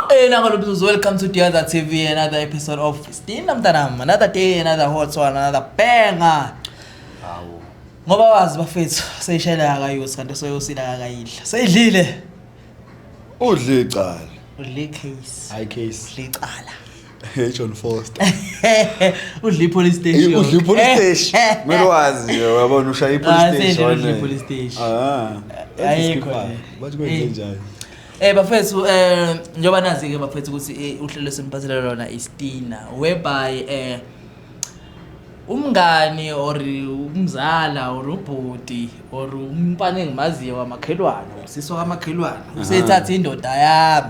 Qina ngalo business welcome to the other TV another episode of Stina mntanami another day another hot one another banger Hawu. Ngoba wazi bafethu seyishayela akayusi kanti soyosila akayidla. Seyidlile. Udle icala. Udle case. High case. Udle icala. Hey John Foster. Udli police station. Hey udli police station. Mele wazi nje uyabona ushaya i police station. Ah, sendele udli police station. Ah. Ayikho. Bathi kwenze njani? Eh bafethu eh njoba nazi ke bafethu ukuthi eh, uhlelo semphathele lona istina whereby eh umngani or umzala or ubhuti or umfana engimaziyo wamakhelwane usisi wamakhelwane usethatha indoda yami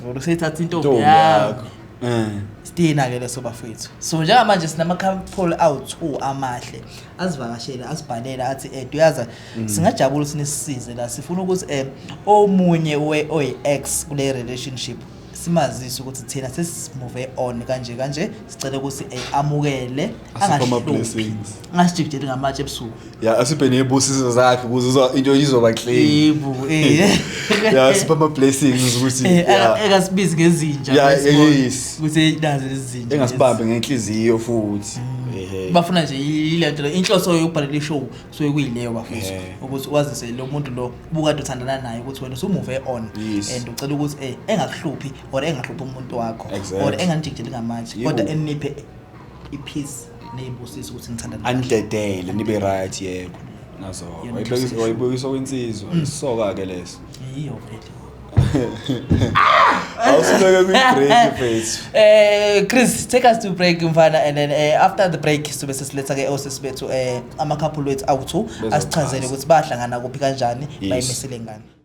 Ngoba sethatha intombi Ntombi yakho. yakho. Eh. Sidina ke leso bafethu. So njengamanje sinama couple awu2 amahle. Asivakashele, asibhalele athi eh uyaza Mm. singajabula sinisisize la sifuna ukuthi eh omunye we oyi ex kule relationship simazise ukuthi thina sesimove on kanje kanje sicela ukuthi eh amukele Asiphe ama angahluphi. blessings. ngasijikijeli ngamatshe ebusuku ya asibhene ibusiso zakhe ukuze uzwa into izoba clean yebo eh ya sipha ama blessings ukuthi eh, ya ekasibizi ngezinja Ya, bese kuthi- yes. kuthi nazi lezinja engasibambe ngenhliziyo futhi Mm. ehe bafuna nje ilento inhloso yokubhalela ishow so kuyileyo bafisa Eh. ukuthi wazise lo muntu lo ubukade uthandana naye ukuthi wena usumuve on Yes. and ucela ukuthi eh engakuhluphi or engahluphi umuntu wakho Exactly. or enganijikijeli ngamatshe Yebo. kodwa eniphe ipeace neyibusiso ukuthi ngithanda anidedele nibe right yebo nazo wayibuyisa kwensizwa mm. isoka ke leso yiyo vele awusibeke kwi-break mfethu eh chris take us to break mfana and then eh, after the break sibe sesiletha ke osisi bethu eh ama-couple wethu awu-two asichazele ukuthi bahlangana kuphi kanjani bayimisele ngani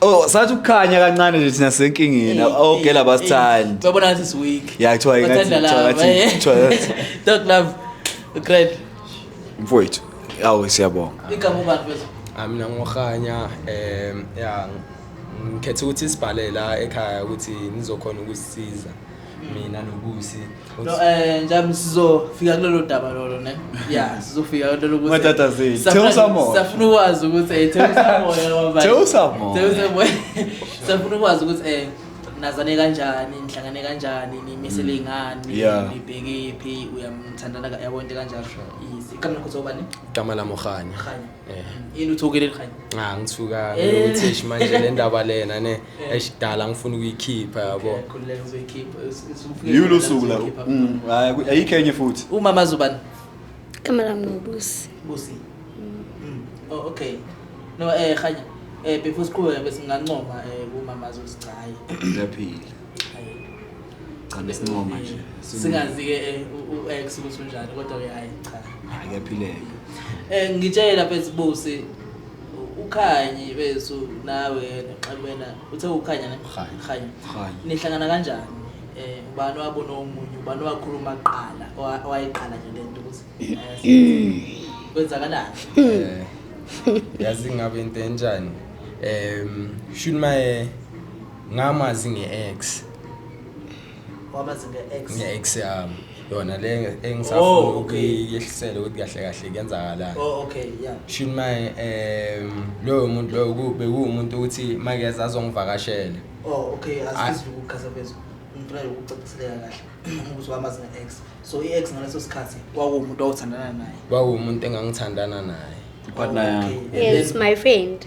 Oh, sathi ukukhanya kancane nje thina senkingeni. Okay laba sithandi. Babona ngathi is weak. Yeah, kuthiwa ingathi kuthiwa ngathi. Dog love. Great. Mfowethu. Awu siyabonga. Igama ubani mfethu? Ah mina ngokhanya eh yeah ngikhetha ukuthi sibhale la ekhaya ukuthi nizokhona ukusisiza mina nobusi No, eh njami sizofika kulelo daba lolo ne. Yeah, sizofika kulelo lokuthi. Matata zini. Theusa moya. Safuna ukwazi ukuthi eh theusa moya ngoba. Theusa moya. Theusa moya. Safuna ukwazi ukuthi eh nazane kanjani nihlangane kanjani nimisele mm. ngani nibheke phi uyamthandana yabonke kanjalo easy kamna khotho ubani gama la mokhanya Eh. yini uthukile elikhanya Cha ngithuka Eh. ngithish manje le ndaba lena ne esidala ngifuna ukuyikhipha yabo. khululeka uzoyikhipha Yiyo lo suku la. Mm, hayi, ku- Ayikho enye futhi. umama azobani igama lami ngubusi busi Mm. oh, okay no eh khanya eh before siqhubeke bese ngingancoma eh kumama azosichayi Ngiyaphila. cha besinqoma manje singazi-ke eh, u-x ukuthi unjani kodwa-ke hayi cha hayi kuyaphileka um ngitshela phezibusi ukhanyi bethu nawe yena xabena uthe ukhanya ne Khanyi. khanyi Khanyi. nihlangana kanjani um ubani wabona omunye ubani wakhuluma kuqala owa- owayiqala nje le nto ukuthi eh, kwenzakalani Eh, yazi ngabe into enjani um shuni maye ngamazi nge-ex wamazi nge-ex nge-ex yami yona le engisafuna oh, ukuyehlisela ukuthi kahle kahle kuyenzakalani oh okay yeah shini maye um loyo muntu loyo bekuwumuntu ukuthi makeza azongivakashela oh okay asizwe ukukhasa phezulu ngifuna ukucaciseleka kahle ukuthi wamazi nge-ex so i-ex ngaleso sikhathi kwakuwumuntu owuthandana naye kwakuwumuntu engangithandana naye partner yami yes my friend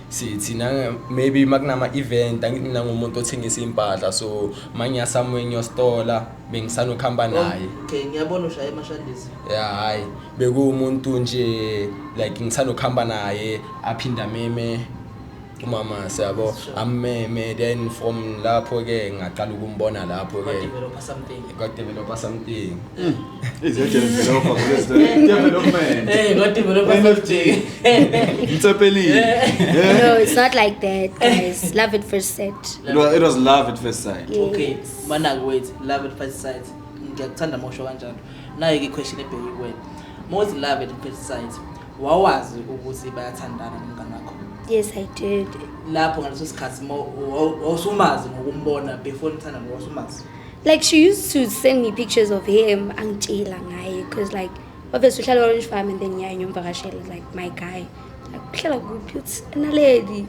sithi nanga maybe makunama event angithi mina ngumuntu othengisa impahla so manya somewhere ngiyostola bengisanokuhamba naye okay ngiyabona ushaya emashandisi ya hayi bekuwumuntu nje like ngisanokuhamba naye aphinda meme umama siyabo ammeme then from lapho ke ngaqala ukumbona lapho ke God developer something. Mm. Is a developer because the development. Hey, God developer something. it's a belly. Yeah. No, it's not like that, guys. love at first sight. It was, it was love at first sight. Yes. Okay, manak wait, love at first sight. Ngiyakuthanda mosho kanjalo. Nayo ke question ebheke kuwe. Most love at first sight. Wawazi ukuthi bayathandana nomngane wakho. Yes, I did. Lapho ngaleso sikhathi wawusumazi ngokumbona before nithanda ngokusumazi. like she used to send me pictures of him angitshela ngaye because like obviously uhlala orange farm and then ngiyaye ngiyomvakashela like my guy like uhlala kuphi uthi analedi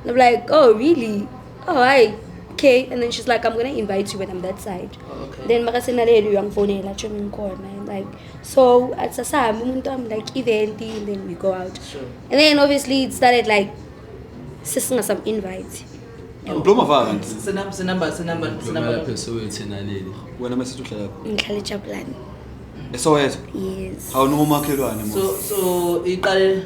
and i'm like oh really oh hi okay and then she's like i'm gonna invite you when i'm that side okay. then makasenaleli uyangifonela tsho ngikhona and like so athi sasahambe umuntu wami like event and then we go out sure. and then obviously it started like sesingasam invite Ngibloma vaka nje. Senamba senamba senamba senamba lapho sowethi naleli. Wena mase uhlala lapho. Ngihlala eJabulani. Esoweto? Yes. Hawu no makhelwane mo. So so iqale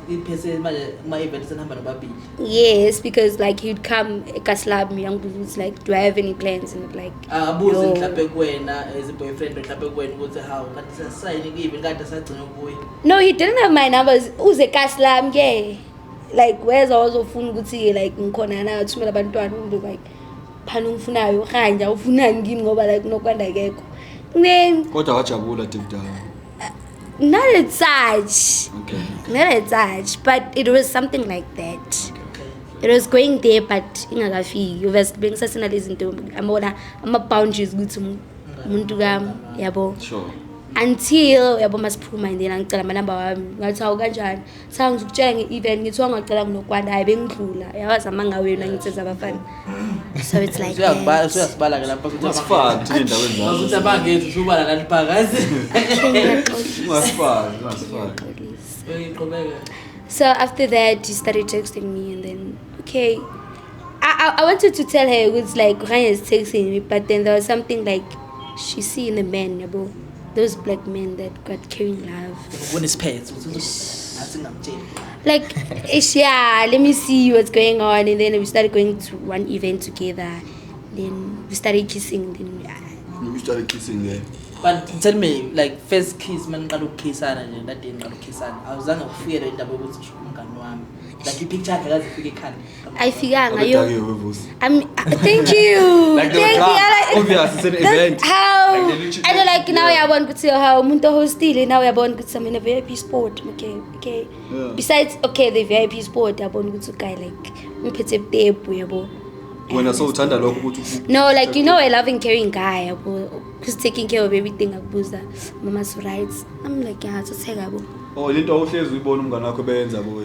iphethe manje kuma event senihamba nobabili. Yes because like you'd come ekaslab mina ngibuza like do I have any plans and like abuze ah, mhlawumbe kuwena as a boyfriend mhlawumbe kuwena ukuthi how kanti sasayini kibe kanti sagcina ukubuya. No he didn't have my numbers uze kaslab ke. Yeah. like weza wazofuna ukuthi like ngikhona na thumela abantwana umntu like phana ungifunayo rhanja ufunani kimi ngoba like kunokwanda kekho kodwa wajabula deep down not at such okay. not at such but it was something like that it was going there but ingakafiki obviously bengisasenalezi nto amabona ama-boundaries ukuthi umuntu kam yabo sure until yabo masiphuma and then angicela amanamba wami ngathi awu kanjani Cha ngizokutshela nge-event ngithiwa ngacela kunokwanda hayi bengidlula yawazi amanga wenu angitseza abafana so it's like Usuyakubala- that. usuyasibala ke lapho ukuthi Ungasifaki thina endaweni Ngazuthi zazo. abangezi usubala lali phakathi. Ungasifaki, ungasifaki. Uyiqhubeka. So after that, she started texting me, and then okay, I I, I wanted to tell her it was like Ryan is texting me, but then there was something like she see in the man, yabo. those black men that got carrying love kunesiphetho ngathi ngamtshela like ish yeah let me see what's going on and then we started going to one event together then we started kissing then we, we started kissing there but tell me like first kiss maniqala ukukhisana nje ndade ngiqala ukukhisana awuzange ufikelwe indaba yokuthi umngani wami like ipicture yakhe kaze ifike ekhanda ayifikanga yo Udakiwe wevusi. I'm, thank you Like they were thank you drunk. I like, Obvious, it's an that's event. how Like they literally- and then like now Yeah. uyabona ukuthi how umuntu ohostile now uyabona ukuthi I'm in a VIP sport okay okay Yeah. besides okay the VIP sport yabona ukuthi uguy like ungiphethe butebu yabo Wena so uthanda lokho ukuthi uku- no like you know a loving caring guy yabo who's taking care of everything akubuza mama's rights I'm like yeah so say yabo Oh lento awuhlezi uyibona umngane wakho benza boy.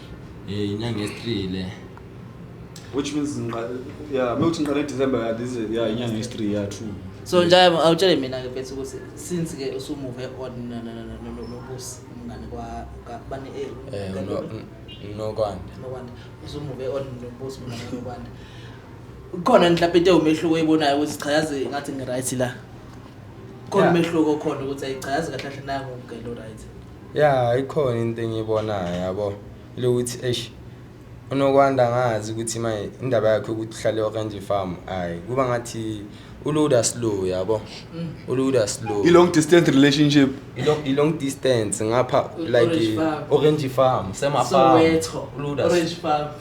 Eh inyanga yesithree le. Which means ngiqa yeah mewuthi ngiqale December yeah this is yeah inyanga yesithree yeah true. so nje awutshele mina ke mfethu ukuthi since ke usumuve on no- no- no- no- no- nobusi umngane kwa- ka- bani eh, Eh ka- uno- un- unokwanda. nokwanda usumuve on nobusi umngane nokwanda ukhona mhlawumbe into ewumehluko oyibonayo ukuthi cha yazi ngathi ngi-right la khona Yeah. umehluko okhona ukuthi ayi cha yazi kahle kahle nangu ngelo right Ya ikhona into engiyibonayo yabo lokuthi eish unokwanda ngazi ukuthi manje indaba yakhe ukuthi uhlale orange farm hayi kuba ngathi uluda slow yabo mm. uluda slow i-long distance relationship i-long distance ngapha like orange farm semafarm uluda orange farm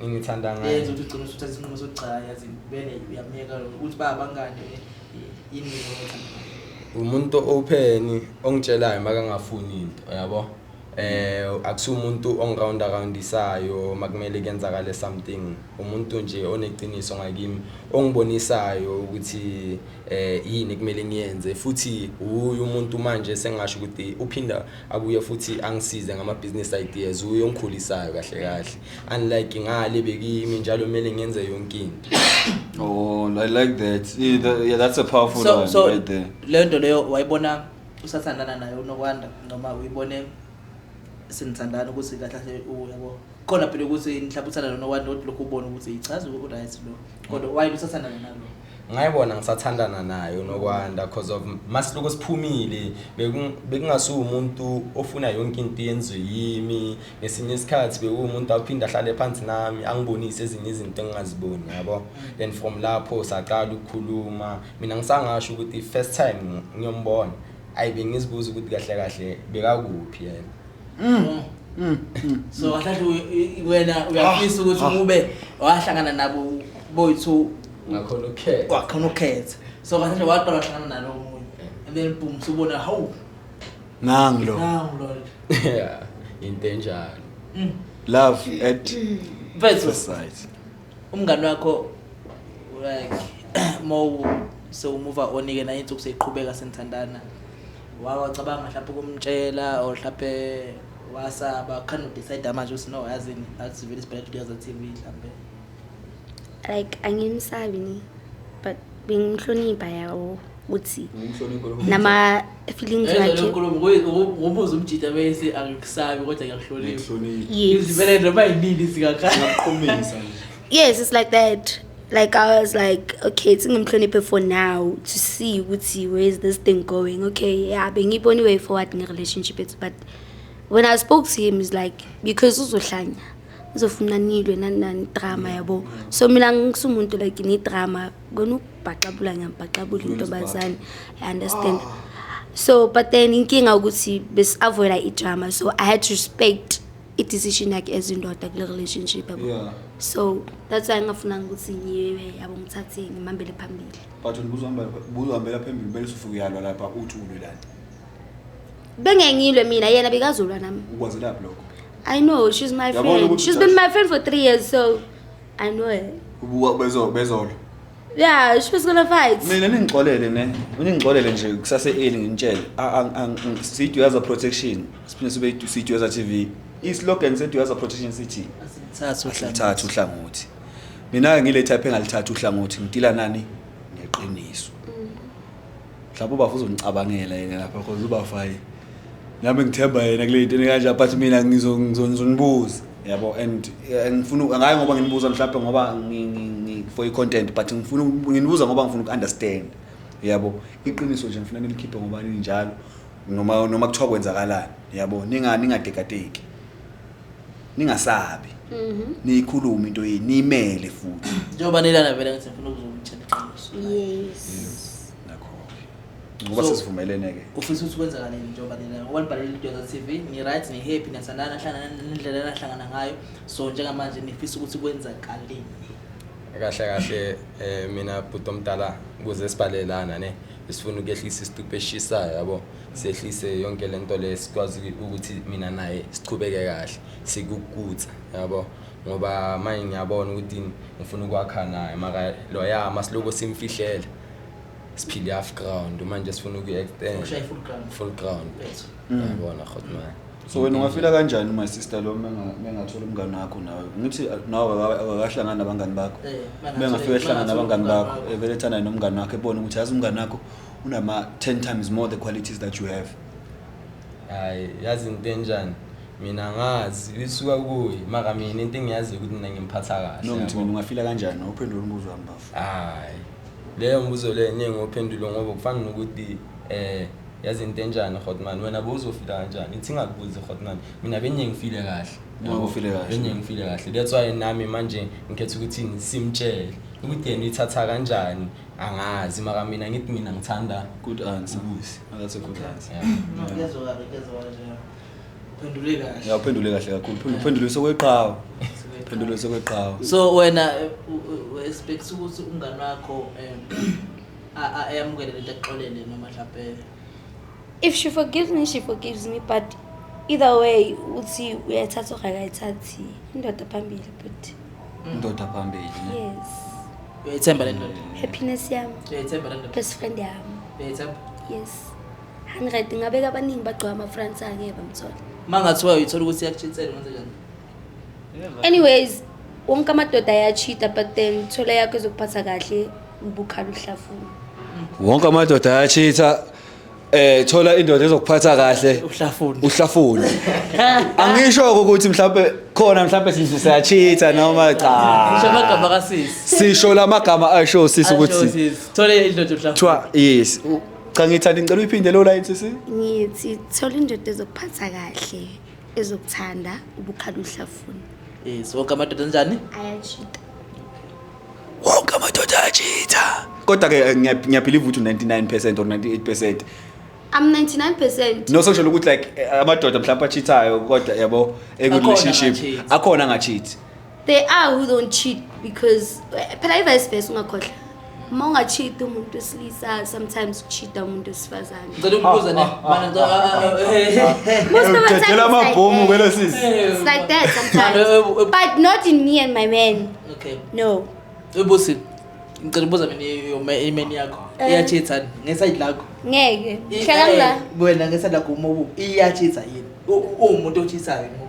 engithanda ngayo yenza ukuthi ugcine usuthatha isinqumo sokuthi cha yazi vele uyamyeka lo ukuthi ba abangani eh, yini mina othanda ngayo. umuntu open ongitshelayo makangafuni into yabo eh akusiwo umuntu ongiround aroundisayo makumele kenzakale something umuntu nje oneqiniso ngakimi ongibonisayo ukuthi eh yini kumele ngiyenze futhi uyu umuntu manje sengasho ukuthi uphinda abuye futhi angisize ngama-business ideas uye ongikhulisayo kahle kahle unlike ngale bekimi njalo kumele ngenze yonke into oh i like that yeah that's a powerful so, one so, right there le nto leyo wayibona usathandana naye unokwanda noma uyibone senithandana ukuthi kahle kahle uyabo khona phela ukuthi nihlabuthana nonokwanda kodwa lokhu ubona ukuthi yichaza u-right lo kodwa wayini usathandana nalo ngayibona ngisathandana nayo nokwanda cause of masiluko siphumile bekungasuwumuntu ofuna yonke into yenziwe yimi ngesinye isikhathi bekuwumuntu aphinde ahlale phansi nami angibonise ezinye izinto engingaziboni yabo then from lapho saqala ukukhuluma mina ngisangasho ukuthi first time ngiyombona ayi bengizibuza ukuthi kahle kahle bekakuphi yena Mm. Mm. mm. So kahle wena uyafisa ukuthi ah. ube wahlangana nabo boyithu ngakhona ukhetha. Kwakhona ukhetha. So kahle waqala wahlangana nalo omunye. And then boom subona how. Nangi lo. Nangi lo. Yeah. Into enjalo. Mm. Love at first sight. umngani wakho like mo sewumuva onike naye insuku seyiqhubeka senithandana wawacabanga mhlawumbe ukumtshela or mhlawumbe wasaba khani udecide manje ukuthi no yazini akusivile isibhele kuyaza TV mhlawumbe like angimsabi ni but bengimhlonipha yawo ukuthi nama-feelings wakheubuza umjita bese angikusabi kodwa ngiyakuhloniphaivele noma yinini singaqhumisa yes it's like that like i was like okay singimhloniphe for now to see ukuthi where is this thing going okay ya bengiyibona iway forward nge-relationship ethu but when i spoke to him is like because uzohlanya ngizofuna nilwe nani nani drama yabo so mina ngisumuntu like ngidrama kona ukubhaxabula ngiyambhaxabula intombazane i understand so but then inkinga ukuthi besi-avoida idrama so i had to respect i-decision yakhe as indoda kule relationship yabo yeah. so that's why ngingafunanga ukuthi ngiwe yabo ngithathe ngimambele phambili but ubuzohambela phambili kumele usufuke uyalwa lapha uthi ulwelani bengengilwe mina yena bekazolwa nami ukwazelaphi lokho i know she's my Yabona friend ukuthi she's been my friend for three years so i know her Ubuka- bezo- bezolo yeah she was gonna fight mina ningixolele ne ningixolele nje kusase eli nginitshele A- ang- ang- ang- siyiduyaza protection siphinde sibe yidu- siyiduyaza tv islogan seduyaza protection sithi Thatha uhlangothi. lithatha uhlangothi mina-ke ngile type engalithatha uhlangothi ngidila nani neqiniso mhlawumbe ubafo uzonicabangela yena lapha because ubafo hayi nami ngithemba yena kule nto kanje but mina ngizonibuza yabo and eh, ngifuna ngaye ngoba nginibuza mhlawumbe ngoba for i-content but ngifuna nginibuza ngoba ngifuna uku-understand yabo iqiniso nje ngifuna nilikhiphe ngoba ninjalo noma noma kuthiwa kwenzakalani yabo ningadekadeki ningasabi mhm. niyikhuluma into yini niyimele futhi njengoba nilana vele ngithi ngifuna ukuzomtshela iqiniso yes nakho ngoba sesivumelene ke ufisa ukuthi kwenza kanini njengoba nilana ngoba nibhalele idoza TV ni right ni happy nasandana hlangana nendlela nahlangana ngayo so njengamanje nifisa ukuthi kwenza kanini kahle kahle eh mina bhuti omdala kuze sibhalelana ne sifuna ukuyehlisisa isitupe eshisayo yabo sehlise yonke le nto le sikwazi ukuthi mina naye siqhubeke kahle sikukutha yabo ngoba manje ngiyabona ukuthi ngifuna ukwakha naye maka loya masiloko simfihlele siphile half ground manje sifuna ukuyi-extend full ground mm. yabona khotmane so wena ungafila kanjani uma sister lo mengathola umngane wakho nawe ngithi nawe akakahlangani nabangani bakho eh, bengafika ehlangana nabangani bakho evele eh, thanayo nomngane wakho ebone ukuthi yazi umngane wakho unama 10 times more the qualities that you have hayi yazi into enjani mina ngazi lisuka kuye maka mina into engiyaziyo ukuthi mina ngimphatha kahle no ngithi yabo. mina ungafila kanjani uphendula umbuzo wami bafo hayi leyo mbuzo leyo ningi ophendulwe ngoba kufana nokuthi eh yazi into enjani hotman wena bowuzofila kanjani ithi ingakubuzi hotman mina benye ngifile kahle Noma ufile kahle. benye ngifile kahle that's why nami manje ngikhetha ukuthi simtshele ukuthi yena ithatha kanjani Angazi maka mina ngithi mina ngithanda Good answer. Ubusi. Oh, that's a good answer. yeah. No, kuyezwakala, kuyezwakala nje. Uphendule kahle. Yeah, uphendule kahle kakhulu. Uphendule- Uphendule sokweqhawe. Uphendule sokweqhawe. so wena eh, u- u- u- expects ukuthi umngane wakho um a- a- ayamukele lento exolele noma mhlawumbe If she forgives me, she forgives me but either way uthi uyayithatha or akayithathi indoda phambili but indoda phambili ne? yes uyayithemba le ndoda happiness yami uyayithemba le ndoda best friend yami uyayithemba yes 100 ngabeka abaningi bagcwala ama France ake bamthola mangathiwa uyithola ukuthi iyakutshinsela manje kanjani anyways wonke amadoda ayachita but then thola yakho ezokuphatha kahle ubukhala uhlafuna wonke amadoda ayachitha eh thola indoda ezokuphatha kahle uhlafuna uhlafuna angisho ukuthi mhlawumbe khona mhlawumbe sizwe siyachitha noma cha Ngisho amagama kasisi sisho lamagama asho sisi ukuthi thole indoda uhlafuna kuthiwa yes u- cha ngithanda ngicela uyiphinde lo line sisi ngithi thola indoda ezokuphatha kahle ezokuthanda ubukhala uhlafuna yes wonke amadoda njani ayachita wonke amadoda ayachita kodwa ke eh, ngiyabhiliva ukuthi 99 percent or 98 percent I'm 99 percent no sosho ukuthi like eh, amadoda mhlawumbe achithayo kodwa yabo ekurelationship akhona angachithi They are who don't cheat because eh, phela i-vice versa ungakhohlwa. Uma unga-cheat umuntu wesilisa sometimes ucheat-a umuntu wesifazane. Ngicela ukubuza ne. Mana ngicela Most of the time Udedela it's like amabhomu that. kwelo sisi. It's like that sometimes. But not in me and my man. Okay. No. Ubusi. Ngicela ukubuza mina yoma imeni yakho. Eh. Iyachitha ni? ngeside lakho. Ngeke. I- Hlala eh, ngila. Wena ngeside lakho umobu iyachitha yini? U- u- Uwumuntu ochithayo ngoku.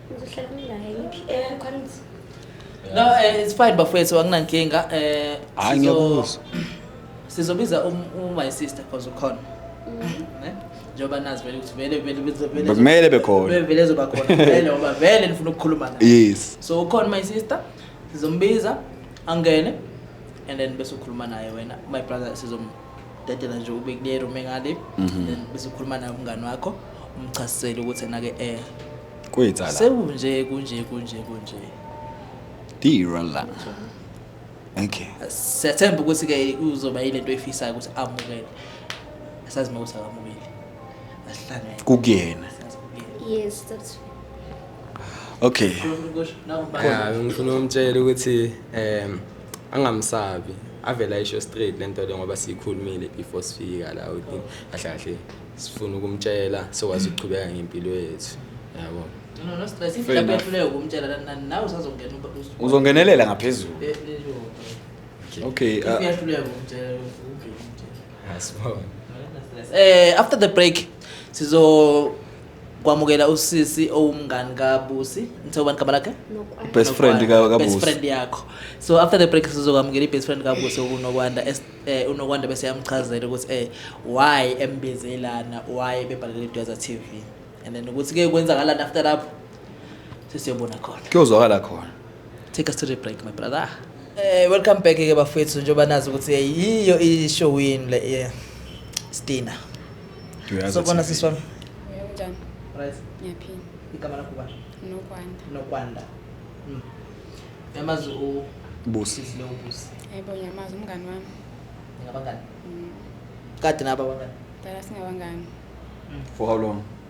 No, eh, it's fine bafowethu anginankinga. Eh Hayi ngiyabuza. Sizobiza um, um my sister because ukhona. Mm-hmm. Eh? Njengoba nazi vele ukuthi vele vele vele vele. Bekumele bekhona. Vele vele zoba khona. Vele ngoba vele nifuna ukukhuluma naye. Yes. So ukhona my sister. Sizombiza angene and then bese ukhuluma naye wena my brother sizom dedela nje ube kule room engale Mhm. then bese ukhuluma naye umngane wakho umchasisele ukuthi enake eh Kwetsa la. sekunje kunje kunje kunje Dira la. Okay. siyathemba ukuthi ke uzoba yilento efisayo ukuthi amukele asazi uma ukuthi akamukeli asihlangene Kukuyena. yes that's Okay. Yeah, ngifuna umtshela ukuthi um angamsabi avele ayisho straight lento le ngoba siyikhulumile before sifika la ukuthi kahle kahle sifuna ukumtshela sokwazi ukuchubeka ngempilo yethu yabo No, no, stress. Fair Mhlawumbe enough. uyahluleka ukumtshela la- na- nawe usazongena uba- us- uzongenelela ngaphezulu Eh, eh, yo. okay If uh, uyahluleka ukumtshela, uke umtshele. asibone Stress. Eh, after the break sizo kwamukela usisi owumngani kabusi ngithe ubani gama lakhe best friend ka- best kabusi friend yakho so after the break sizokwamukela i-best friend kabusi okunokwanda es- eh, unokwanda bese yamchazela ukuthi eh why embize lana why bebhalele idweza tv and then ukuthi ke kwenzakalani after lapho sesiyobona khona kuyozwakala khona Take us to the break my brother. Eh welcome back ke bafethu njengoba nazi ukuthi yiyo i-show yini le eh, Stina. Duyaza So bona TV. sisi wami. Unjani? Right. Ngiyaphila. Igama lakho ubani? Nokwanda. Nokwanda. Mm. Yamazi u Busi. Sisi lo ubusi. Hayibo ngiyamazi umngani wami. Ngabangani? Mm. Kade naba abangani. Dala singabangani. For how long?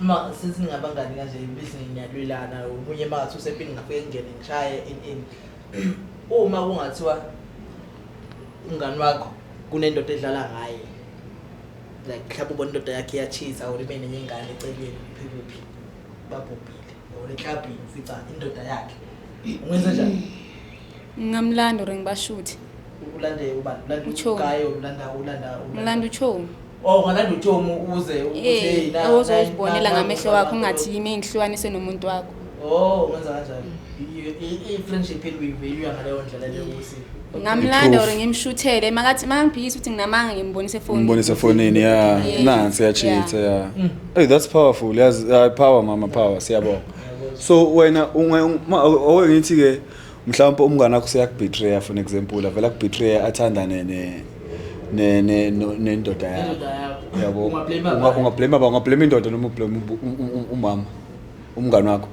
uma since ningabangani kanje bese ngiyalwelana omunye mathi usempini ngafike ngene ngishaye in in uma kungathiwa umngani wakho kunendoda edlala ngaye like mhlawumbe ubona indoda yakhe iyachisa or ibe nenye ingane eceleni phikuphi babhubhile or eklabhini ufica indoda yakhe ungenza njani Ngingamlanda or ngibashuthe. Ulanda ubani? Ulanda Uchomi. ugaye or ulanda ulanda ulanda- Ngilanda uchomi. Oh, ungalanda utshomi ukuze ukuthi hey, Eh, na- awuzozibonela na- na- ngamehlo wakho na- ungathi yimi engihlukanise nomuntu wakho. Oh, ungenza kanjalo. I- i- I-friendship eluyiveyuya ngaleyo ndlela leyo ukuthi Ngamlanda or ngimshuthele makathi mangiphikisa ukuthi nginamanga ngimbonise efonini. umbonise efonini ya Yeah. nansi yachitha ya Mm. hey that's powerful yazi uh, power mama power siyabonga so wena unge- uma- awe ngithi-ke mhlawumpe umngane wakho seyakubetray for example avela kubetray athandane ne ne ne nendoda yakho yabo unga blame ba unga blame indoda noma blame umama umngane wakho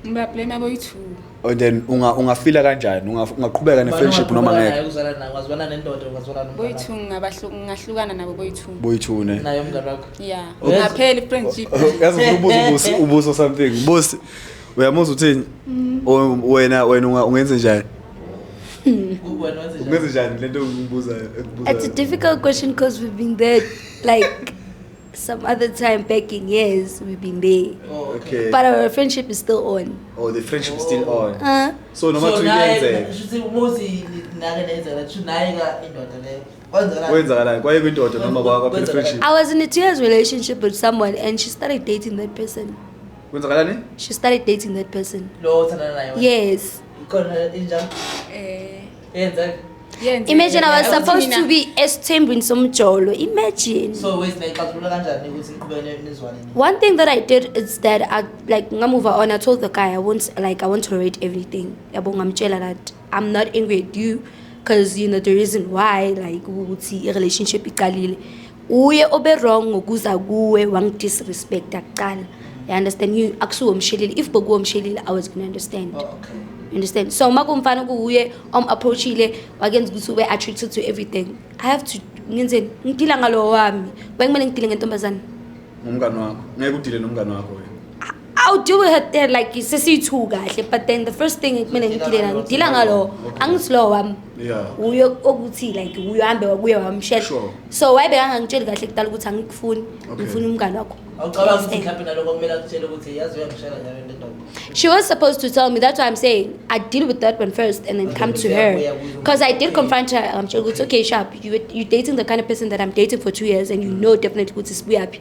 ngiba blame abo yithu and then unga ungafila kanjani ungaqhubeka ne friendship noma ngeke uzala nayo ngazwana nendoda ngazwana nomama boyithu ngabahluka ngahlukana nabo boyithu boyithu ne nayo umngane wakho yeah ngapheli friendship yazi ubuso ubuso something boss uyamuzwa uthini mm. wena wena ungenze njani ungenze njani lento ngibuza it's a difficult question because we've been there like some other time back in years we've been there oh, okay. but our friendship is still on oh the friendship is still on uh, so noma so naye shuthi umuzi nake nenza la shuthi naye ka indoda leyo kwenzakalani kwaye kwindoda noma kwaphela friendship i was in a two years relationship with someone and she started dating that person kwenzakalani she started dating that person lo othandana naye wena? yes khona injalo Eh, yenzeka yenze- imagine i was Ukuthi supposed mina- to be esithembini somjolo imagine so wes nayixazulula kanjani ukuthi niqhubeke nizwane nini One thing that I did is that I like ngamuva on I told the guy I won't like I won't tolerate everything. Yabo ngamtshela that I'm not angry at you because you know the reason why like ukuthi i-relationship iqalile uye obe-wrong ngokuza kuwe wangidisrespecta kuqala you understand you akusuwo mshelile if bokuwo mshelile i was gonna understand oh, okay. you understand so uma kumfana kuwuye om-approachile wakenza ukuthi ube attracted to everything i have to ngenzeni ngidila ngalowo wami bekumele ngidile ngentombazane ngumngane wakho ngeke udile nomngane wakho I'll deal with her there like sesiyithu kahle but then the first thing kumele ngidile na ngidila ngalo angithi lo wami Yeah. uye okuthi like uye hambe wabuye wamshela Sure. so wayibe angangitsheli kahle kudala ukuthi angikufuni Okay. ngifuna umngane wakho awucabanga ukuthi mhlawumbe naloko kumele akutshele ukuthi yazi uyangishela njalo into endoda She was supposed to tell me. That's why I'm saying I deal with that one first and then come to her. Because I did confront her. I'm sure it's okay, sharp. You, you're dating the kind of person that I'm dating for two years and you know definitely what is happy.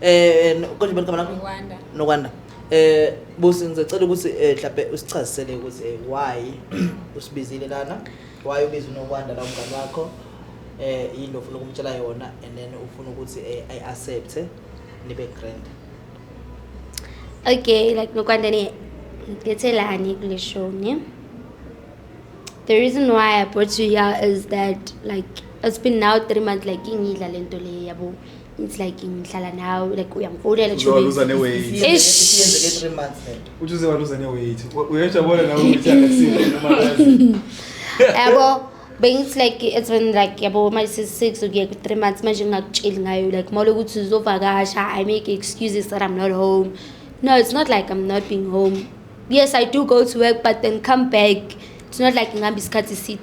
eh konje bani kamana Nokwanda. nokwanda eh busi ngizocela ukuthi eh mhlawumbe usichazisele ukuthi eh, why usibizile lana why ubiza unokwanda la umngane wakho eh yini ofuna ukumtshela yona and then ufuna ukuthi eh, i accept nibe grand Okay, like Nokwanda ni ngethelani kule show ne. The reason why I brought you here is that like it's been now 3 months like ingidla lento le yabo. it's like ngihlala nawe like uyangifowunela uzowaluza ne-weight uthi uzowaluza ne-weight uyajabona nawe ukuthi akakusile yabo bengithi like it's been like yabo manje sisi-six ukuye ku-three months manje ngingakutsheli ngayo like mawule ukuthi uzovakasha i make excuses that i'm not home no it's not like i'm not being home yes i do go to work but then come back it's not like ngihamba isikhathi eside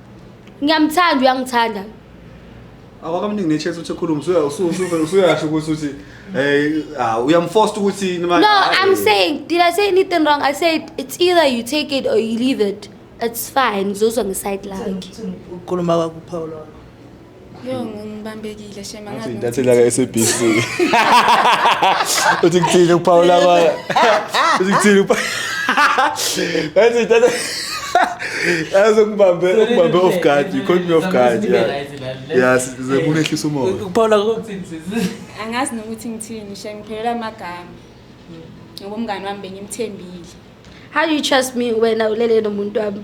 ngiyamthanda uyangithanda awakamningi nechance ukuthi ekhulume usuya- usu- usu- usuyasho ukuthi uthi eh ah, uyamforce ukuthi noma- no ah, i'm eh. saying did i say anything wrong i said it's either you take it or you leave it it's fine ngizozwa ngeside lakhe Ukukhuluma kwakho uPaul. Yo ngibambekile shema ngazi. Intatheli yaka SABC. Uthi kuthini ukuphawula abanye? Uthi kuthini ukuphawula? Ngathi intatheli Yazi ukubambe ukubambe off guard, you caught me off guard. Yeah, sekunehlisa umoya. Ukuphawula kokuthini sisi? Angazi nokuthi ngithini, shay ngiphelela amagama. Ngoba umngani wami bengimthembile. How do you trust me wena ulele nomuntu wami?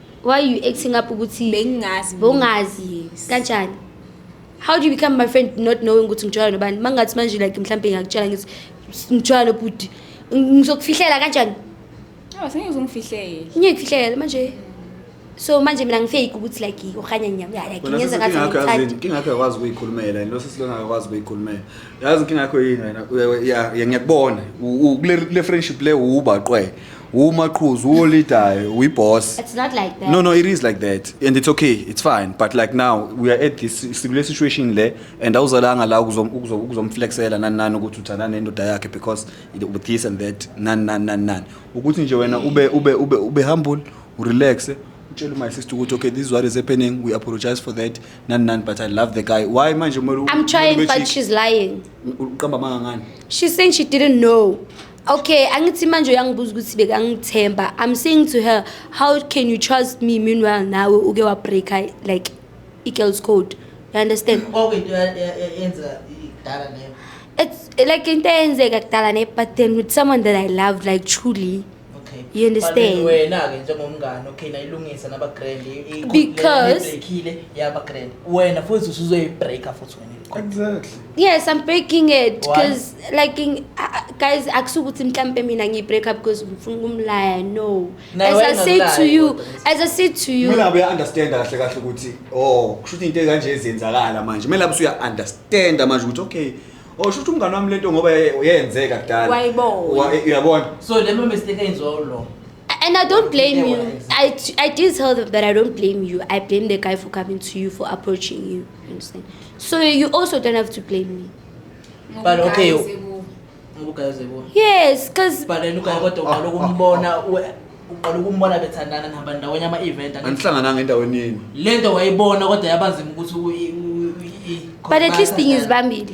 why are you acting up ukuthi bengingazi bongazi yes. kanjani how do you become my friend not knowing ukuthi ngitshwala nobani mangathi manje like mhlawumbe ngiyakutshela ngithi ngitshwala nobhuti ngizokufihlela kanjani oh sengeke uzongifihlele ngeke kufihlele manje so manje mina ngifake ukuthi like ukhanya ngiyakuyaye ngenza ngathi ngithanda inkinga yakho yakwazi ukuyikhulumela lo sesilona akakwazi ukuyikhulumela yazi inkinga yakho yini wena ngiyakubona kule friendship le uba qwe umaqhuzu uwolidayo uyiboss It's not like that. no no it is like that and it's okay it's fine but like now we are at this sikule situation le and awuzalanga la ukuzom- ukuzo- ukuzomflexela nani nani ukuthi uthandana nendoda yakhe because it- with this and that nani nani nani nani ukuthi nje wena ube ube ube ube humble urelaxe utshele my sister ukuthi okay this is what is happening we apologize for that nani nani but i love the guy why manje kumele u- I'm trying, ube but chick? she's lying. uqamba amanga ngani She's saying she didn't know. Okay, angithi manje uyangibuza ukuthi bekangithemba. I'm saying to her, how can you trust me meanwhile nawe uke wa break like i girls code. You understand? Okay, yenza idala name. It's like into eyenzeka kudala ne but then with someone that I love like truly. Okay. You understand? Wena ke njengomngane okay nayilungisa naba grand because yaba grand. Wena futhi usuzoyi breaker futhi. Exactly. Yes, I'm breaking it because like in, uh, guys akusukuthi mhlambe mina ngi break up because ngifuna ukumlaya no. As I said to you, as I said to you. Mina be understand kahle kahle ukuthi oh kushuthi into kanje ezenzakala manje. Mina lapho uya understand manje ukuthi okay Oh shuthi umngane wami lento ngoba yenzeka kudala. Wayibona. Eh, uyabona. So lema mistake enziwa ulo. And I don't blame you. I, I did tell them that I don't blame you. I blame the guy for coming to you, for approaching you. understand so you also don't have to blame me But okay, Ngokugayize you- kuwe. ngokugayize kuwe yes because but then ugaye kodwa uqala ukumbona we- uqala ukumbona bethandana nihamba ndawonye ama-event Angithi- anihlangananga endaweni yenu le nto wayibona kodwa yabanzima ukuthi u- i- u- i- i- but at least bathandane. ngizibambile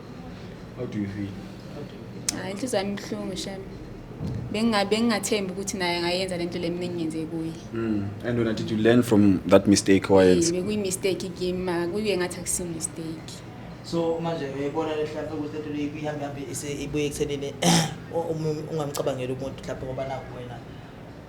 How do you feel? Hayi ah, inhliziyo yami ibuhlungu shem. Benginga bengingathembi ukuthi naye angayenza lento leminingi ngenze kuye. Mm. And when did you learn from that mistake owayenza? Bekuyi mistake kimi kuye ngathi akusi mistake. So manje uyayibona le hlampe ukuthi lento leyi kuyihambe hambe ibuye ekuthenini ungamcabangeli umuntu hlampe ngoba nakuwena.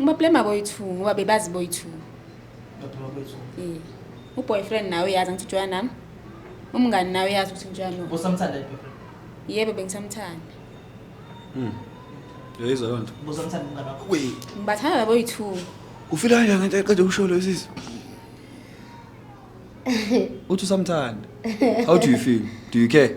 ngibablema boyi-two ngoba bebazi boyi-two Eh, uboyfriend nawe uyazi angithi ujoya nami umngani nawe uyazi ukuthi ngijoya no Bosamthanda yini boyfriend? yebo bengisamthanda Uyayizwa leyo nto? Bosamthanda umngane wakho? Wee. ngibathanda laboyi-two Ufila kanjani ngento eqeda ukusho leyo sisi? Uthi usamthanda. How do you feel? Do you care?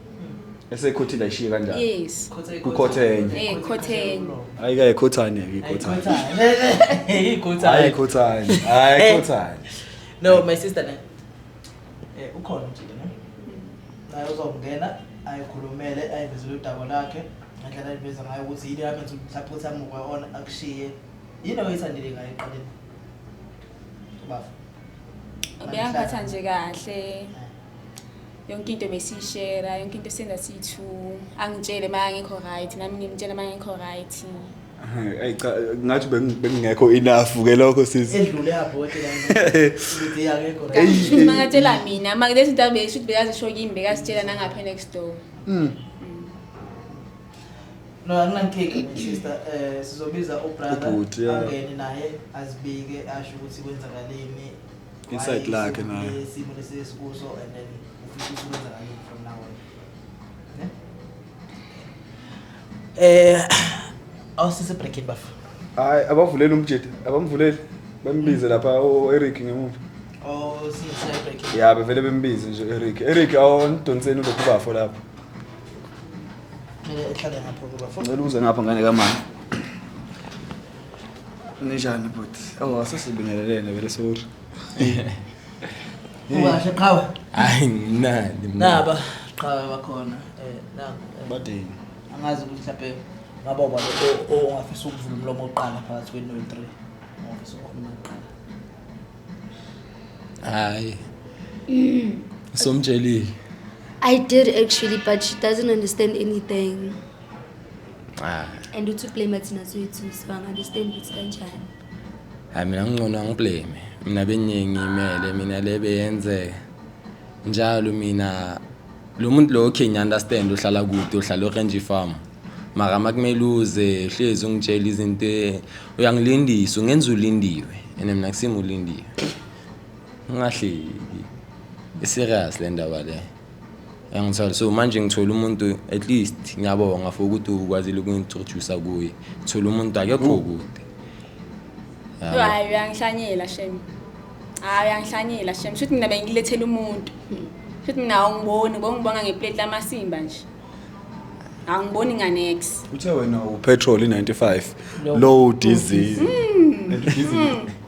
esekhothile ayishiye kanjalo yes kukhothenya eh khotheni hayi ke khothane ke khothane hayi Ikhothane. khothane hayi Eh. khothane No, my sister ne. Eh ukhona umjike ne. Naye uzongena ayikhulumele ayivezele udaba lakhe ngendlela ayiveza ngayo ukuthi yini yakhe ukuthi mhlawumbe uthi amuke on akushiye. Yini oyithandile ngayo eqaleni? Ubafa. ubeyangiphatha nje kahle yonke into besiyishera yonke into senza siyi-two angitshele uma angekho right nami ngimtshele uma angekho right Ayi cha ngathi bengingekho enough ke lokho sisi. Edlule yabhote la. Ukuthi yakekho right. Hey, mangatshela mina, manje lezi zinto abesho ukuthi bekazisho kimi bekazitshela nangapha next door. Mm. No, anginankinga my sister. Eh sizobiza ubrother angene naye azibike asho ukuthi kwenzakaleni Inside lakhe naye. Isimo lesikuso and then ufisa ukwenza ngani from now on. Eh awusise breaking bafu. Hayi abavuleli umjede, abamvuleli. Bambize lapha o-Eric ngemuva. Oh sise breaking. Ya bevele bembize nje u-Eric. Eric awondonseni ulokhu bafo lapho. Mina ehlale ngapha kuba. Ngicela uze ngapha ngane kamama. Ninjani bhuti? Oh, asesibingelelene vele sorry. Ungahle qhawe. Hayi nginani mina. Naba qhawe bakhona. Eh nabo. Badini. Angazi ukuthi mhlawumbe ngaba uba ongafisa ukuvula umlomo oqala phakathi kwenu noyi-three. Ongafisa ukukhuluma kuqala. Hayi. Somtshelile. I did actually, but she doesn't understand anything. Ah. And uthi ublame thina swethu so angaunderstand ukuthi kanjani. Hayi mina ngingcono angiblame. Mina beningi imele mina le beyenzeka. Njalo mina lo muntu lo okay ngiunderstand uhlala kude uhlala orange farm. Mara makumele uze uhlezi ungitshela izinto e- uyangilindisa ungenza ulindiwe. Ene mina kusimo ulindiwe. Ungahleki. Iserious le ndaba le. so manje ngithola umuntu at least ngiyabonga for ukuthi ukwazile ukungitrodusa kuye ngithola umuntu akekho kude hayi uyangihlanyela shem hayi uyangihlanyela shem shuthi mina bengilethela umuntu shuthi mina awungiboni bongibona ngeplate lamasimba nje angiboni nganex uthe wena upetrol i95 low diesel hmm.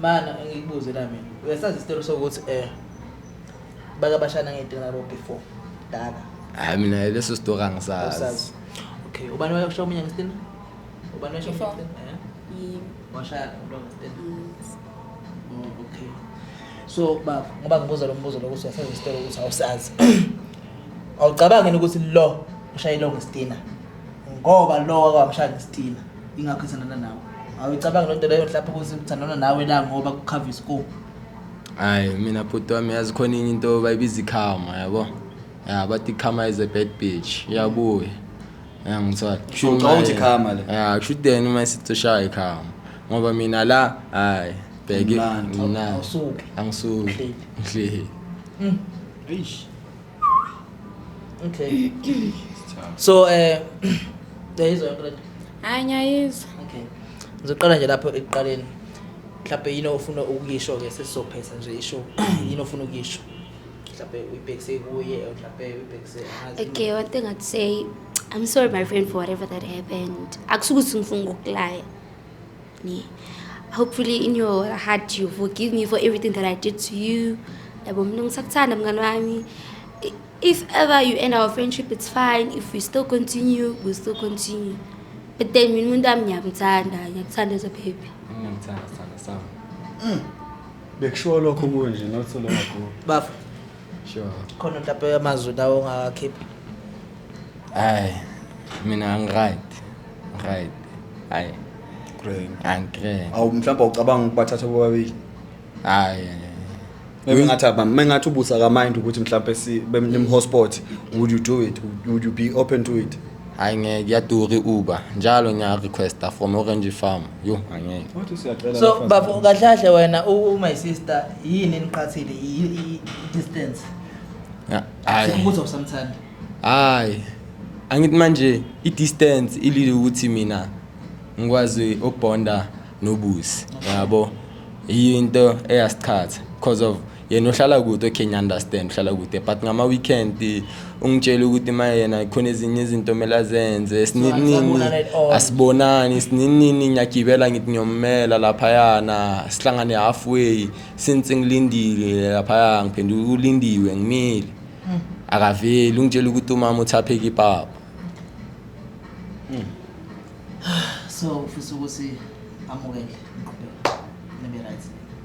Mana ngikubuze la mina. Uyasazi isitelo sokuthi eh baka bashana ngedela nabo before. Daka. Hayi mina leso story angisazi. Usazi. Okay, ubani wayosho omunye ngesitini? Ubani wayosho Before. omunye ngesitini? Eh. Yimi. Washaya umuntu ngesitini. Mm. Oh, okay. So baba, ngoba ngibuza lo mbuzo lokuthi uyasazi isitolo ukuthi awusazi. Awucabangi yini ukuthi lo ushayile ongestina ngoba lo wakwamshaya ngesitila ingakho ithandana nawe awuyicabanga loo nto leyo mhlawumbe ukuthi uthandana nawe la ngoba kukhava isikomu hayi mina bhuti wami yazi khona enye into bayibiza ikhama yabo ya bathi ikhama is a bad bitch iyabuya ya ngithola Kusho ucabanga ukuthi ikhama le? ya kusho ukuthi then uma sithi ushaya ikhama ngoba mina la hayi bheke Mnandi. mina Awusuki. angisuki Ngihleli. ngihleli Eish. Okay. so eh yayizwa yonke lento. Hayi ngiyayizwa. Okay. Ngizoqala nje lapho ekuqaleni. Mhlawumbe yini ofuna ukuyisho ke sesizophetha nje isho yini ofuna ukuyisho. Mhlawumbe uyibhekise kuye mhlawumbe uyibhekise ngazi. Okay, one thing I'd say I'm sorry my friend for whatever that happened. Akusukuthi ngifuna ukukulaya. me hopefully in your heart you forgive me for everything that i did to you yabo mina ngisakuthanda mngani wami if ever you end our friendship it's fine if we still continue we still continue but then mina umuntu wami ngiyakuthanda ngiyakuthanda as a baby ngiyakuthanda sithanda sami bekushiwo lokho kunje not so long ago bafo sure khona utape yamazwi lawo ongakakhipha hayi mina ngiright right hayi Great. angikre awu mhlawumbe ucabanga ukubathatha bobabili hayi maybe ngathi aba- uma ngathi ubusa kamind ukuthi mhlawumbe si- bem- nimhotspot would you do it would you be open to it Hayi ngeke kuyadura i-Uber. Njalo ngiya requesta from Orange Farm. Yo angeke. Wathi usiyacela so abafana. bafo kahle kahle wena u- u- my sister yini eniqhathile Yi- yi- distance Ya, Hayi. ukuthi awusamthandi Hayi. Angithi manje i-distance ilile ukuthi mina ngikwazi ukubonda nobusi. Yabo. Yinto eyasiqhatha because of yena uhlala kude okay ngiunderstand uhlala kude but ngama weekend ungitshela ukuthi uma yena khona ezinye izinto kumele azenze sininini asibonani sininini ngiyagibela ngithi ngiyommela laphayana sihlangane halfway since ngilindile laphaya ngiphenduka ulindiwe ngimile hmm. akaveli ungitshela ukuthi umama uthapheke ipapa hmm. so ufisa ukuthi amukele ngiqhubeke nibe right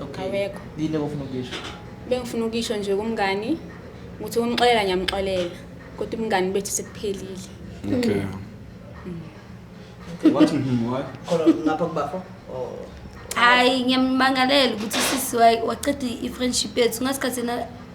Okay. Awekho. Yini obufuna ukuyisho? Bengifuna ukuyisho nje kumngani ukuthi umxolela ngiyamxolela kodwa umngani bethu sekuphelile. Okay. What mhm why? Khona ngapha kubafo. Oh. hayi ngiyammangalela ukuthi sisi wa- waqeda i-friendship yethu ngasikhathi yena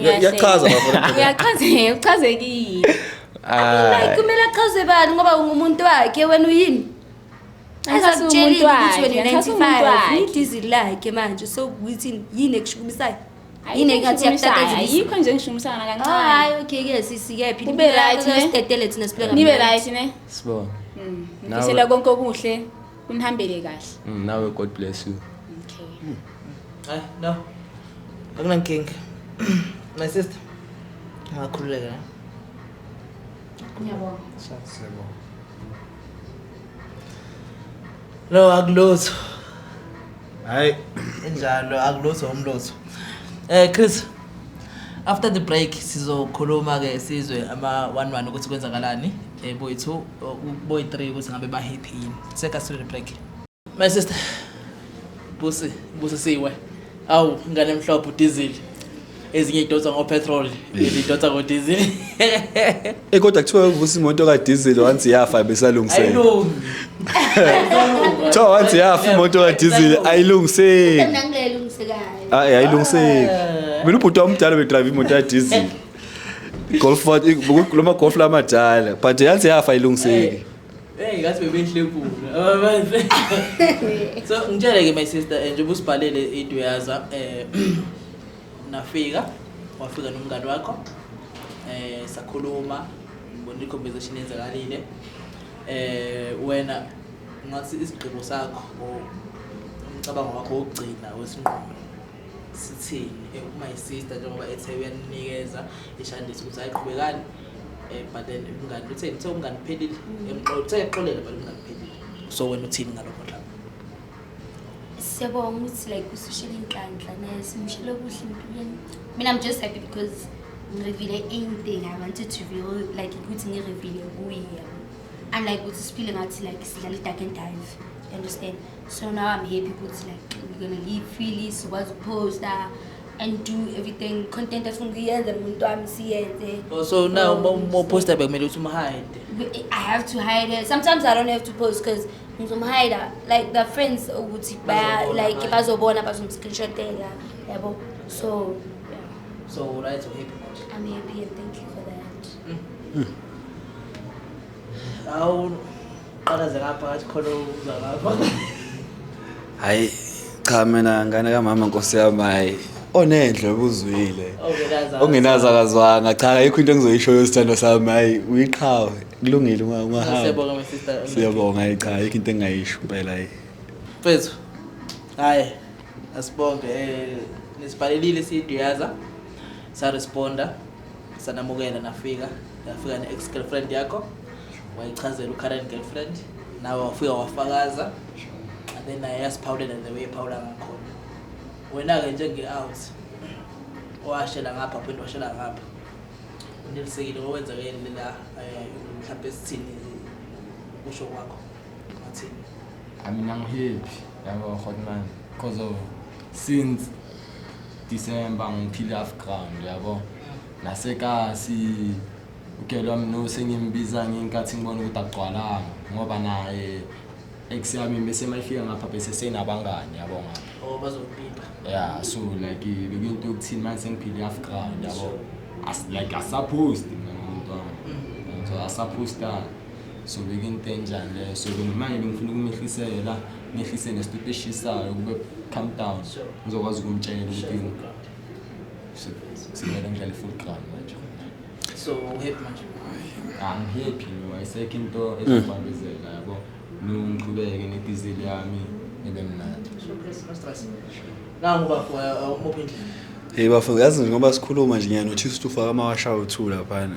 Yachaza bafo. Yachaza, uchazekile. Ah. Kumele achaze bani ngoba ungumuntu wakhe wena uyini? Asakutsheli ukuthi wena 95 idizi lakhe manje so ukuthi yini ekushukumisayo? Yini engathi yakutata yikho nje ngishukumisana kancane. Oh, hayi okay ke sisi ke phila. Nibe right ne? Sidedele thina siphila. Nibe right ne? Sibona. Mm. Ngisela konke okuhle. Unihambele kahle. Mm, nawe God bless you. Okay. Hayi no. Akunankinga. My sister. Ngakhululeka. ne? Ngiyabonga. Siyabonga. No akulutho. hayi enjalo akulutho umlutho eh chris after the break sizokhuluma ke sizwe ama one one ukuthi kwenzakalani eh boy 2 boy 3 ukuthi ngabe ba happy yini seka sile break my sister busi busi siwe awu ngane mhlophe udizili ezinye idonsa ngopetrol ezinye idonsa ngodiesel Eh kodwa kuthiwa uvusa imoto ka diesel once iyafa besalungisela. ayilungi Kuthiwa once iyafa imoto ka diesel ayilungiseki. Mina ngilelungisekayo. Hayi ayilungiseki. Mina ubhuti wami umdala bedrive imoto ya diesel. Golf Ford lo ma golf lamadala but yansi yafa ayilungiseki. Hey, ngathi bebehle kulo. So ngitshele ke my sister eh, njengoba usibhalele into yaza eh nafika wafika nomngani wakho eh sakhuluma ngibona i-conversation yenzakalile eh wena ngathi isigqibo sakho or umcabango wakho wokugcina wesinqumo sithini eh, uma isister njengoba ethe uyaninikeza ishandisi ukuthi ayiqhubekani eh, but then umngani uthe uthe umngani phelile mm. emxola uthe exolela but umngani phelile so wena uthini ngalokho dlaba siyabonga ukuthi like usushela inhlanhla naye simushele kuhle empilweni mina i'm just happy because ngirevile anything i wanted to reveal like ukuthi ngirevile kuye unlike ukuthi siphile ngathi like sidlala i-dark and dive understand So now I'm happy ukuthi like we're gonna leave freely sikwazi ukuposta and do everything content efuna ukuyenza nomuntu wami siyenze. Oh, so now uma uma uposta bekumele ukuthi umhide. But I have to hide it. Sometimes I don't have to post because ngizomhida like the friends ukuthi baya Bazobona, like right. bazobona bazomscreenshotela yabo so yeah, So right so happy manje. I'm happy and thank you for that. hayi cha mina ngane kamama nkosi yami hayi onendle obuzwile ongenazi akazwanga cha ayikho into engizoyishoyo isithando sami hayi uyiqhawe kulungile ungahamba siyabonga hayi cha ayikho into engingayisho impela hayi mfethu hayi asibonge eh, nisibhalelile siyiduyaza saresponda sanamukela nafika yafika ne-ex girlfriend yakho wayichazela u-current girlfriend nawe wafika wafakaza and then naye yasiphawulela the way ephawula ngakhona wena-ke njenge-out owashela ngapha phinde washela ngapha unelisekile okwenzakele lela eh, mhlawumbe esithini kusho kwakho ngathini I mean, I'm happy. I'm a hot man because of since December ngiphile half ground yabo nasekasi ugelwa mno sengimbiza ngenkathi ngibona ukuthi agcwalanga ngoba naye ex yami bese mayifika ngapha bese senabangani yabo ngapha oh bazokupipa yeah so like bekuyinto yokuthini manje sengiphile half ground yabo as like asupposed mina umuntu wami mm. so asupposed sobeka into enjani leyo so manje bengifuna ukumehlisela mehlise nesituti eshisayo kube calm down ngizokwazi ukumtshela ukuthi simele ngidlale full ground manje so uhappy manje angihappy no ayisekho into ezobambezela yabo ngiqhubeke nedizili yami ebe mnandi nangu bafo umuphi indlela Hey bafo yazi ngoba sikhuluma nje ngiyanothi usufaka amawasha uthu laphana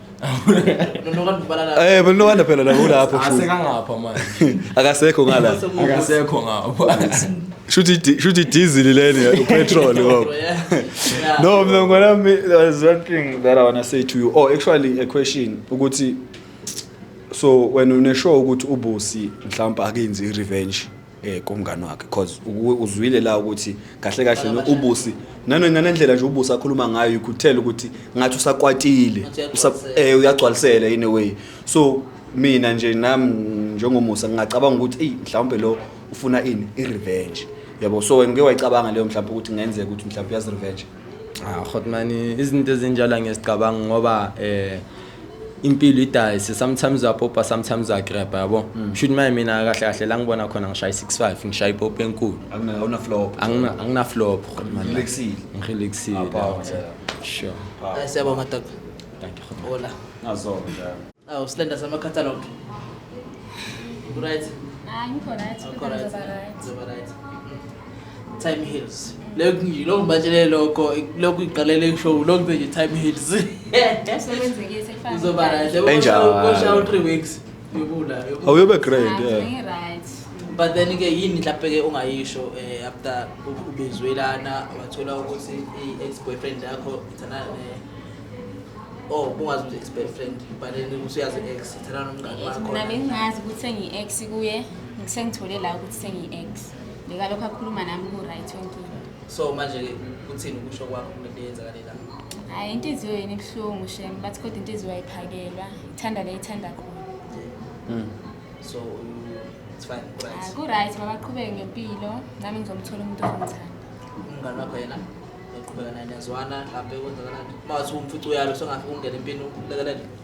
Eh but no wonder phela la ulapho futhi. Asekangapha manje. Akasekho ngala. Akasekho ngapha. Shuthi shuthi diesel leni upetrol ngoba. No mina ngona there's one thing that I want to say to you. Oh actually a question ukuthi so wena uneshow ukuthi ubusi mhlawumbe akenzi revenge. eh kumngani wakhe because uzwile la ukuthi kahle kahle no ubusi nano nanendlela nje ubusi akhuluma ngayo ikhuthela ukuthi ngathi usakwatile eh uyagcwalisela in a way so mina nje nami njengomusa ngingacabanga ukuthi hey mhlawumbe lo ufuna ini i revenge yabo so wena uke wayicabanga leyo mhlawumbe ukuthi kungenzeka ukuthi mhlawumbe uyazi revenge ah khotmani izinto ezinjalo ngesicabanga ngoba eh impilo idayise sometimes uyapopa sometimes uyagrabha yabo mm. shuthi maye mina kahle kahle la ngibona khona ngishaya i-65 ngishaya ipopa enkulu anginaflop ngirelaxile sure siyabonga dok thank you hola ngazonda awu silenda sama-catalog right hayi ngikho right ngikho right time hills lokhu nje lokhu ngibatshele lokho lokhu iqalele kusho lokhu nje time hills Usebenzekile sefana. uzoba right Enjalo. kusha u 3 weeks yobula yobula. awuyobe grand Right, yeah. right. but then ke yini mhlawumbe ke ongayisho eh, after u- ubizwe lana wathola ukuthi i-ex boyfriend yakho ithanana ne oh bungazi ukuthi ex boyfriend but then ukuthi uyazi ex ithanana nomngane wakho Mina bengingazi ukuthi sengiyi-ex kuye sengithole la ukuthi sengiyi-ex Ngikalokho akhuluma nami ku-right yonke into. So manje-ke kuthini ukusho kwakho kule nto eyenzakale la? Hhayi inhliziyo yena ibuhlungu shem bathi kodwa inhliziyo ayiphakelwa ithanda le ithanda khona. Mm. So u- it's fine, Ah, right. Ku-right mabaqhubeke ngempilo nami ngizomthola umuntu ozongithanda. Umngane wakho yena uqhubeka naye niyazwana hlampe kwenzakalani? Uma wathi umfica uyalo songafika ungena empini ulekelele.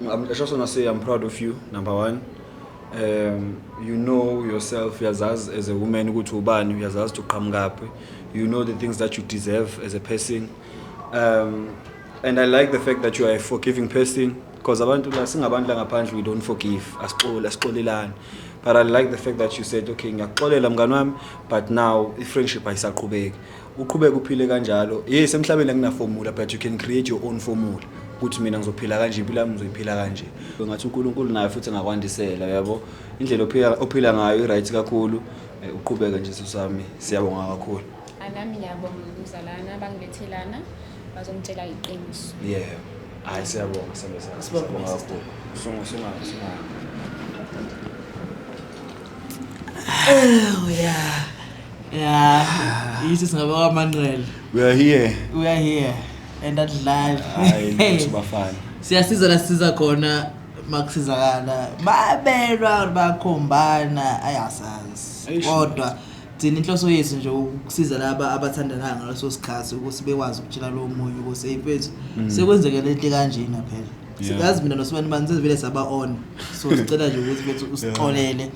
I'm, I just want to say I'm proud of you, number one. Um, you know yourself, uyazazi as a woman ukuthi ubani, uyazazi ukuthi uqhamukaphi. You know the things that you deserve as a person. Um, and I like the fact that you are a forgiving person because abantu la singabantu la ngaphandle we don't forgive. Asixole, asixolelani. But I like the fact that you said, okay, ngiyakuxolela mngani wami, but now i-friendship ayisaqhubeki. uqhubeke uphile kanjalo yes emhlabeni akunafomula but you can create your own formula ukuthi mina ngizophila kanje impilo yami ngizoyiphila kanje ngathi uNkulunkulu naye futhi ngakwandisela yabo indlela ophila ophila ngayo iright kakhulu eh, uqhubeke nje sami siyabonga kakhulu anami ngiyabonga umzalana bangibethelana bazongitshela iqiniso yeah hayi siyabonga sami siyabonga kakhulu sungu sunga sunga oh yeah ya yithi singabe kwamanqele we are here we are here and adlali hayi bafana siyasiza la siza khona makusizakala babelwa bakhombana ayasazi kodwa thina inhloso yethu nje ukusiza laba abathandanayo ngaleso sikhathi ukuthi bekwazi ukutshela lowo munye ukuthi hey mfethu mm. sekwenzeke lento kanjena phela sikazi mina nosibani bani sezivele saba-on so sicela nje ukuthi bethu usixolele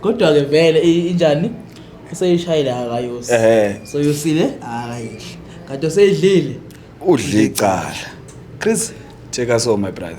Kodwa ke vele i- injani useyishayile akayosi. Ehhe. So yosile akayidli. Kanti useyidlile. udle icala chris take us home my brother